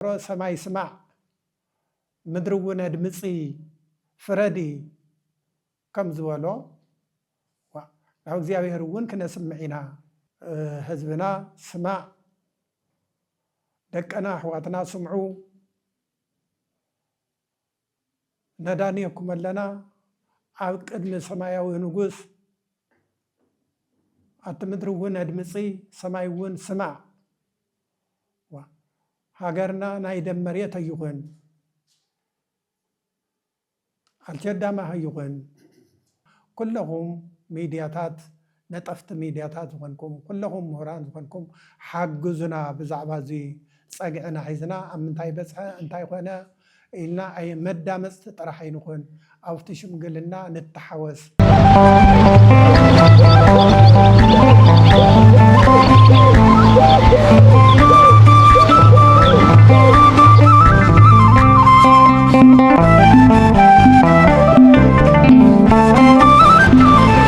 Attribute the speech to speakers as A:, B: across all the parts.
A: ጸውሮ ሰማይ ስማዕ ምድሪውን ኣድምጺ ፍረዲ ከም ዝበሎ ዋእ ናብ እግዚኣብሔርውን ክነስምዕ ኢና። ህዝብና ስማዕ ደቅና ኣሕዋትና ስምዑ። ነዳንየኩም ኣለና ኣብ ቅድሚ ሰማያዊ ንጉስ ኣቲ ምድሪ እውን ኣድምፂ ሰማይ እውን ስማዕ ሃገርና ናይ ደም መሬት ኣይኹን ኣልቸዳማ ኣይኹን ኩለኹም ሚድያታት ነጠፍቲ ሚድያታት ዝኾንኩም ኩለኹም ምሁራን ዝኾንኩም ሓግዙና ብዛዕባ እዚ ፀግዒ ናሒዝና ኣብ ምንታይ በፅሐ እንታይ ኮነ ኢልና ኣይ መዳመፅቲ ጥራሕ ኣይንኹን ኣብቲ ሽምግልና ንተሓወስ።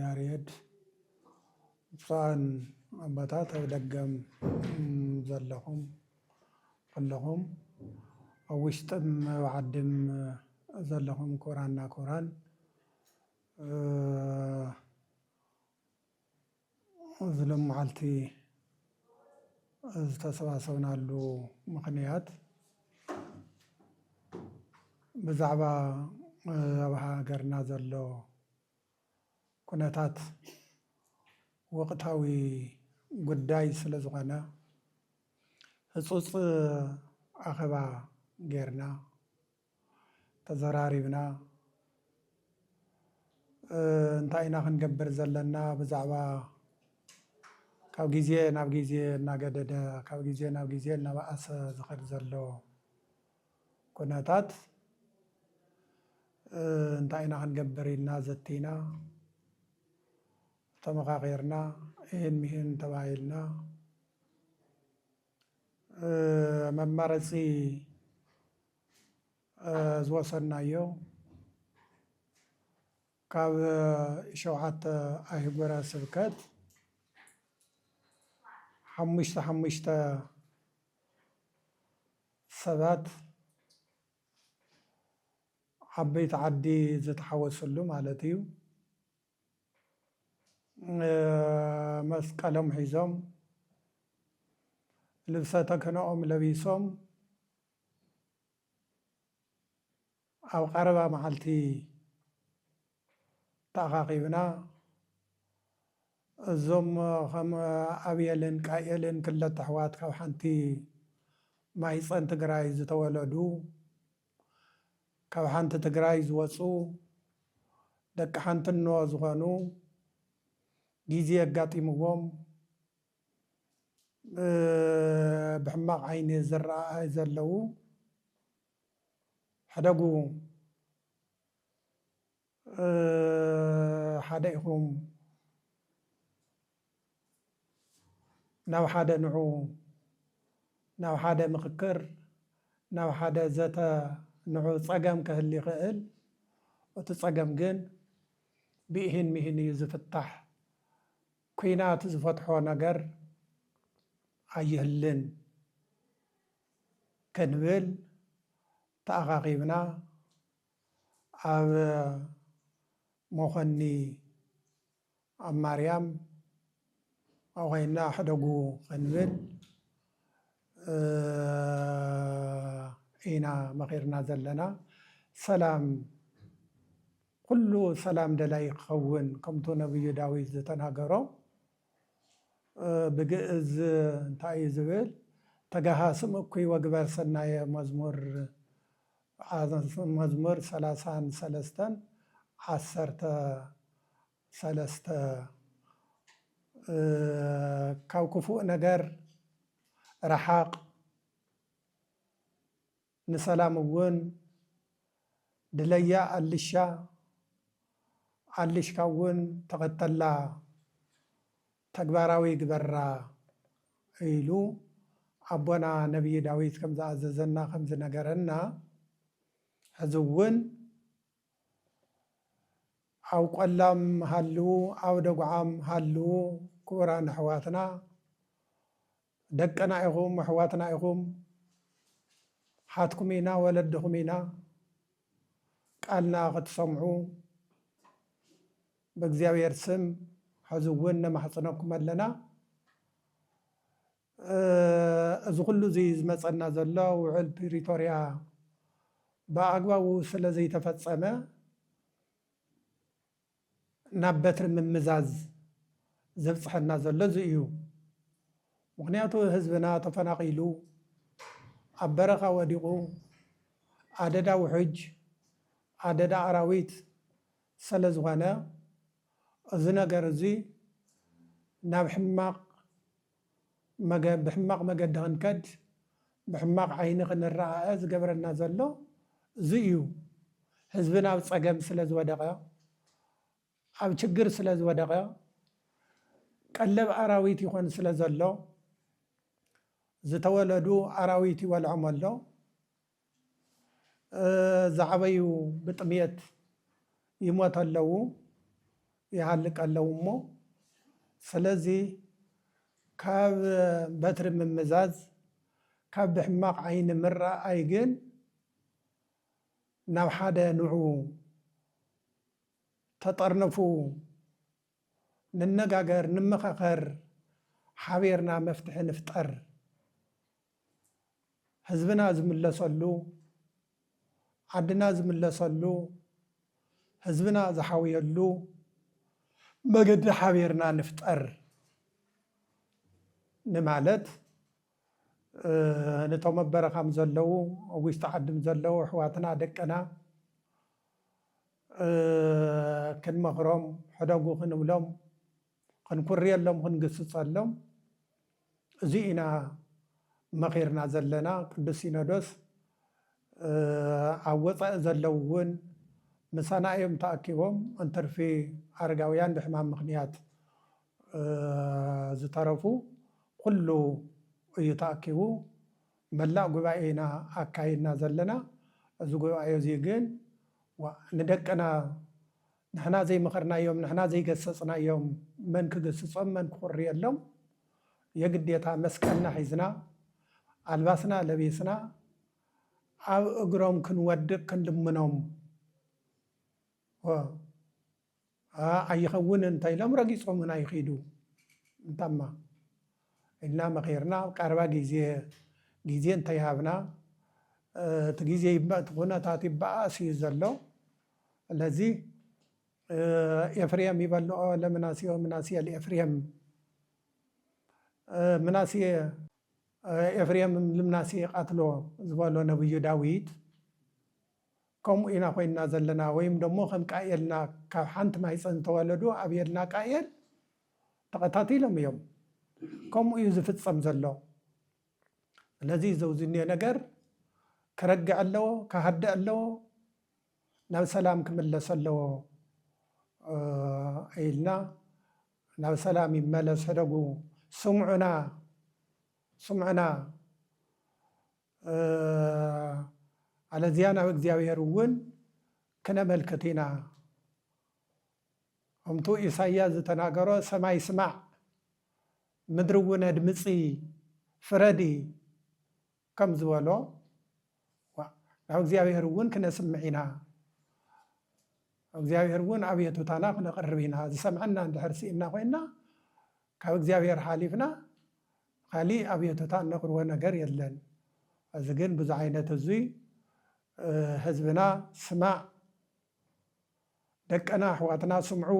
A: ያሬድ ብፁዓን ኣቦታት ኣብ ደገም ዘለኹም ኩሉኹም ኣብ ውሽጥን ኣብ ዓድን ዘለኹም ክቡራንና ክቡራን እዚ ሎምዓልቲ ዝተሰባሰብናሉ ምኽንያት ብዛዕባ ኣብ ሃገርና ዘሎ ኩነታት ወቕታዊ ጉዳይ ስለዝኾነ ህፁፅ ኣኼባ ጌርና ተዘራሪብና እንታይ ኢና ክንገብር ዘለና ብዛዕባ ካብ ግዜ ናብ ግዜ እናገደደ ካብ ግዜ ናብ ግዜ እናበኣሰ ዝኸድ ዘሎ ኩነታት እንታይ ኢና ክንገብር ኢልና ዘቲና ተመኻኺርና ይህን ምሂን ተባሂልና መማረፂ ዝወሰድናዮ ካብ ሸውዓተ ኣህጉረ ስብከት ሓሙሽተ ሓሙሽተ ሰባት ዓበይቲ ዓዲ ዝተሓወስሉ ማለት እዩ። መስቀሎም ሒዞም ልብሰ ተክህኖኦም ለቢሶም ኣብ ቀረባ መዓልቲ ተኣኻኺብና እዞም ከም ኣብየልን ቃኤልን ክልተ ኣሕዋት ካብ ሓንቲ ማይፀን ትግራይ ዝተወለዱ ካብ ሓንቲ ትግራይ ዝወፁ ደቂ ሓንትኖ ዝኾኑ ጊዜ ኣጋጢምዎም ብሕማቕ ዓይኒ ዝረኣዩ ዘለዉ ሕደጉ ሓደ ኢኹም ናብ ሓደ ንዑ ናብ ሓደ ምኽክር ናብ ሓደ ዘተ ንዑ ፀገም ከህሊ ይኽእል እቱ ፀገም ግን ብኢሂን ሚሂን እዩ ዝፍታሕ ኩናት ዝፈትሖ ነገር ኣይህልን ክንብል ተኣኻኺብና ኣብ ሞኾኒ ኣብ ማርያም ኣብኡ ኸይንና ሕደጉ ኸንብል ኢና መኺርና ዘለና። ሰላም ኹሉ ሰላም ደላዪ ክኸውን ከምቱ ነብዩ ዳዊት ዝተናገሮ ብግእዝ እንታይ እዩ ዝብል ተጋሃስም እኩይ ወግበር ሰናየ መዝሙር ኣሃዛት መዝሙር ሰላሳን ሰለስተን ዓሰርተ ሰለስተ ካብ ክፉእ ነገር ረሓቕ፣ ንሰላም እውን ድለያ ኣልሻ ኣልሽካ እውን ተኸተላ። ተግባራዊ ይግበራ ኢሉ ኣቦና ነብዪ ዳዊት ከም ዝኣዘዘና ከም ዝነገረና ሕዚ እውን ኣብ ቆላም ሃልዉ ኣብ ደጉዓም ሃልዉ ክቡራን ኣሕዋትና ደቅና ኢኹም ኣሕዋትና ኢኹም ሓትኩም ኢና ወለድኹም ኢና ቃልና ክትሰምዑ በእግዚኣብሔር ስም ሐዚ እውን ነማሕፅነኩም ኣለና እዚ ኩሉ እዚ ዝመፀና ዘሎ ውዕል ፕሪቶርያ ብኣግባቡ ስለ ዘይተፈፀመ ናብ በትሪ ምምዛዝ ዘብፅሐና ዘሎ እዚ እዩ ምክንያቱ ህዝብና ተፈናቂሉ ኣብ በረኻ ወዲቁ ኣደዳ ውሕጅ ኣደዳ ኣራዊት ሰለዝኾነ እዚ ነገር እዚ ናብ ሕማቕ መገ ብሕማቕ መገዲ ክንከድ ብሕማቕ ዓይኒ ክንረኣኣ ዝገብረና ዘሎ እዚ እዩ ህዝብና ኣብ ጸገም ስለዝወደቐ ኣብ ችግር ስለዝወደቐ ቀለብ ኣራዊት ይኾን ስለዘሎ ዝተወለዱ ኣራዊት ይበልዖም ኣሎ። ዝዓበዩ ብጥምየት ይሞት ኣለው ይሃልቅ ኣለው እሞ ስለዚ ካብ በትሪ ምምዛዝ ካብ ብሕማቕ ዓይኒ ምረኣይ ግን ናብ ሓደ ንዑ ተጠርነፉ ንነጋገር ንመኻኸር ሓቢርና መፍትሒ ንፍጠር ህዝብና ዝምለሰሉ ዓድና ዝምለሰሉ ህዝብና ዝሓውየሉ መገዲ ሓቢርና ንፍጠር ንማለት ነቶም ኣብ በረኻም ዘለዉ ኣብ ውሽጢ ዓድም ዘለዉ ኣሕዋትና ደቅና ክንመኽሮም፣ ሕደጉ ክንብሎም፣ ክንኩርየሎም፣ ክንግስጸሎም እዚ ኢና መኺርና ዘለና። ቅዱስ ሲኖዶስ ኣብ ወጻኢ ዘለዉ እውን ምሳና እዮም ተኣኪቦም፣ እንትርፊ ኣረጋውያን ብሕማም ምኽንያት ዝተረፉ ኩሉ እዩ ተኣኪቡ። መላእ ጉባኤ ኢና ኣካይድና ዘለና እዚ ጉባኤ እዚ ግን ዋእ ንደቅና ንሕና ዘይመኸርናዮም ንሕና ዘይገሰፅናዮም መን ክግስፆም መን ክኹርየሎም የግዴታ መስቀልና ሒዝና ኣልባስና ለቢስና ኣብ እግሮም ክንወድቅ ክንልምኖም ኣይኸውንን እንተኢሎም ረጊፆምና ይኺዱ። እንታማ ኢልና መኺርና ኣብ ቀረባ ግዜ ግዜ እንተይሃብና እቲ ግዜ እቲ ኩነታት ይበኣስ እዩ ዘሎ። ስለዚ ኤፍሬም ይበልኦ ለምናሴ ወምናሴ ለኤፍሬም ምናሴ ኤፍሬም ልምናሴ ቃትሎ ዝበሎ ነብዩ ዳዊት ከምኡ ኢና ኮይንና ዘለና ወይም ደሞ ከም ቃኤልና ካብ ሓንቲ ማህጸን ዝተወለዱ ኣብየልና ቃኤል ተቀታቲሎም እዮም ከምኡ እዩ ዝፍጸም ዘሎ ስለዚ እዚ ኣብዚ እኒኦ ነገር ክረግዕ ኣለዎ ክሃድእ ኣለዎ ናብ ሰላም ክምለስ ኣለዎ ኢልና ናብ ሰላም ይመለስ ሕደጉ ስምዑና ስምዑና ኣለዚያ ናብ እግዚኣብሔር እውን ክነመልክት ኢና ከምቱ ኢሳያስ ዝተናገሮ ሰማይ ስማዕ ምድሪ እውን ኣድምፂ ፍረዲ ከም ዝበሎ ናብ እግዚኣብሔር እውን ክነስምዕ ኢና እግዚኣብሔር እውን ኣቤቱታና ክነቕርብ ኢና ዝሰምዐና እንድሕር ስኢና ኮይና ካብ እግዚኣብሔር ሓሊፍና ኻሊእ ኣብዮተታ እነቅርቦ ነገር የለን እዚ ግን ብዙ ዓይነት እዙይ ህዝብና ስማዕ ደቅና ኣሕዋትና ስምዑ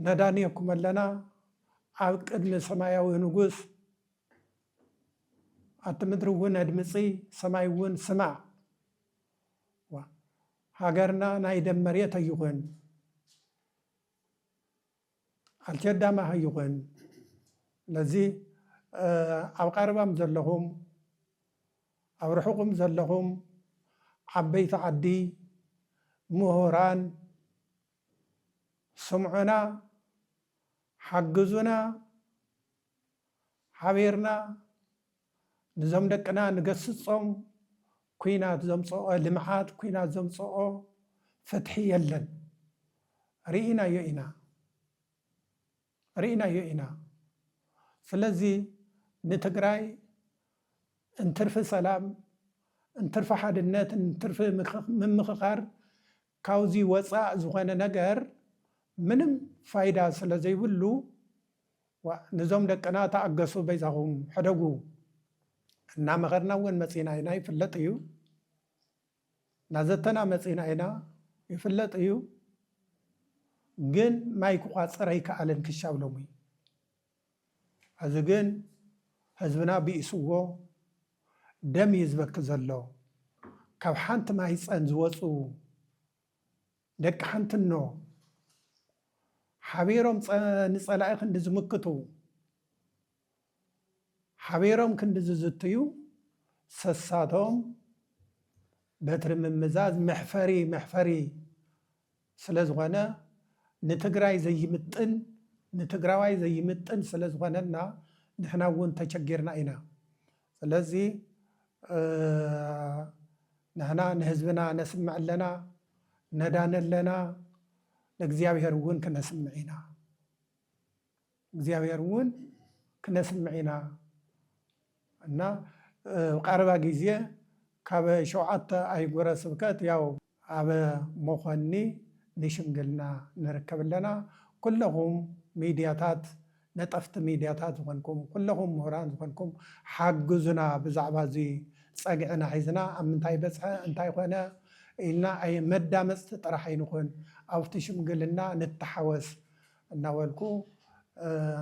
A: ነዳንየኩም ኣለና ኣብ ቅድሚ ሰማያዊ ንጉስ ኣቲ ምድሪ እውን ኣድምፂ ሰማይ እውን ስማዕ ሃገርና ናይ ደም መሬት ኣይኹን ኣልቸዳማ ሀይኾን ነዚ ኣብ ቐረባም ዘለኹም ኣብ ርሑቕም ዘለኹም ዓበይቲ ዓዲ ምሁራን ስምዑና ሓግዙና ሓቢርና ንዞም ደቅና ንገስጾም ኩናት ዘምጾኦ ልምዓት ኩናት ዘምጾኦ ፍትሒ የለን ሪኢናዮ ኢና ሪኢናዮ ኢና ስለዚ ንትግራይ እንትርፊ ሰላም እንትርፊ ሓድነት እንትርፊ ምምኽኻር ካብዚ ወጻእ ዝኾነ ነገር ምንም ፋይዳ ስለዘይብሉ ዋእ ንዞም ደቅና ተኣገሱ በይዛኹም ሕደጉ እናመኸርና እውን መፂና ኢና ይፍለጥ እዩ ናዘተና መፂና ኢና ይፍለጥ እዩ ግን ማይ ክቋፅር ኣይከኣለን ክሻብ ሎሚ ሕዚ ግን ህዝብና ብኢስዎ ደም እዩ ዝበኪ ዘሎ ካብ ሓንቲ ማህፀን ዝወፁ ደቂ ሓንትኖ ሓቢሮም ንፀላኢ ክንዲ ዝምክቱ፣ ሓቢሮም ክንዲ ዝዝትዩ ሰሳቶም በትሪ ምምዛዝ መሕፈሪ መሕፈሪ ስለዝኾነ ንትግራይ ዘይምጥን ንትግራዋይ ዘይምጥን ስለዝኾነና ንሕና እውን ተቸጊርና ኢና። ስለዚ ንሕና ንህዝብና ነስምዕ ኣለና፣ ነዳኒ ኣለና፣ ንእግዚኣብሔር እውን ክነስምዕ ኢና። እግዚኣብሔር እውን ክነስምዕ ኢና እና ቀረባ ግዜ ካብ ሸውዓተ ኣህጉረ ስብከት ያው ኣብ መኾኒ ንሽምግልና ንርከብ ኣለና። ኩለኹም ሚድያታት ነጠፍቲ ሚድያታት ዝኾንኩም ኩለኹም ምሁራን ዝኾንኩም ሓግዙና ብዛዕባ እዚ ፀግዕና ሒዝና ኣብ ምንታይ በፅሐ እንታይ ኮነ ኢልና ኣይ መዳመፅቲ ጥራሕ ኣይንኹን ኣብቲ ሽምግልና ንተሓወስ እናበልኩ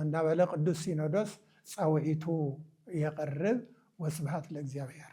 A: እናበለ ቅዱስ ሲኖዶስ ፃውዒቱ የቕርብ ወስብሃት ለእግዚኣብሔር።